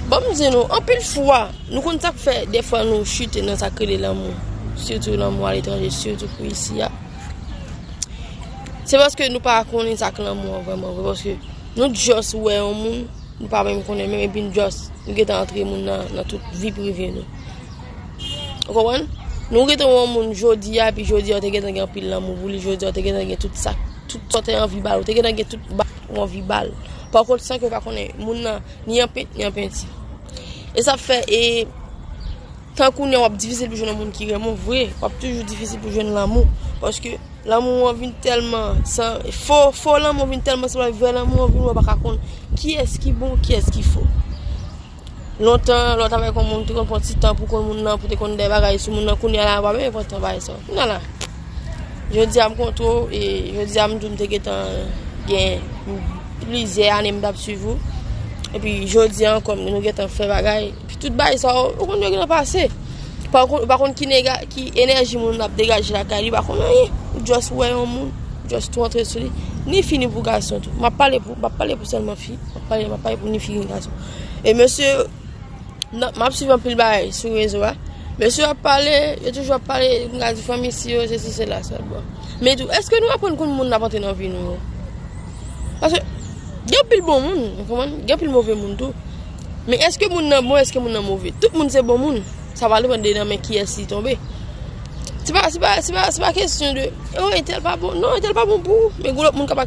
Banm di nou, anpil fwa, nou konn sak fè defwa nou chute nan sak rele lanmou, sitou lanmou aletranje, sitou pou isi a. Se paske nou pa konnen sak lanmou an vreman vre, paske nou just wè yon moun, nou pa menm konnen menm, epi nou just, nou getan antre moun nan, nan tout vi prive nou. Ou konprann? Nou getan wè yon moun jodi a, epi jodi a ou te getan gen anpil lanmou pou li, jodi a ou te getan gen tout sak, tout sa ou te anvi bal, ou te getan gen tout bal ou anvi bal. Pakont san ke ou pa konnen moun nan. Ni an pent, ni an penti. E sa fè, e, tan kounye wap difisil pou jwenn moun ki renmen vre, wap toujou difisil pou jwenn lanmou. Paske, lanmou an vin telman, san, fo, fo lanmou vin telman san wè vre lanmou an vin wap baka konn ki es ki bon, ki es ki fo. Lontan, lò tavèk yon moun, te konn pranti tan pou konn moun nan, pou te konn de bagay sou moun nan, kounye la wap e konn te bagay sa. Kounye la. Jodi a m kontre w e jodi a m di w m te gentan gen plizyè ane m t ap suiv ou. Epi jodi a ankò nou gentan fè bagay. Epi tout bagay sa yo, ou konn yo gentan pase. Ou pa konn ki enèji moun ap degaje lakay li, ou pa konn anyen. Ou just wè yon moun, ou just tou antre sou li. Ni fi ni pou gason tou. M ap pale pou sèlman fi. M ap pale pou ni fi ni gason. E mesye. Map swiv anpil bagay sou rezo a. Mesye yo ap pale, yo toujou ap pale, m ka di fanmi si yo, se si se la sa bon. Men tou, eske nou aprann konn moun ap antre nan vi nou yo? Pase, gen anpil bon moun, gen anpil move moun tou. Men eske moun nan bon, eske moun nan move? Tout moun se bon moun, sa va depan de nan men kiyès li tonbe. Se pa, se pa, se pa, se pa kesyon de, oh, entèl pa bon, non, entèl pa bon pou ou, men gen lòt moun kap ak.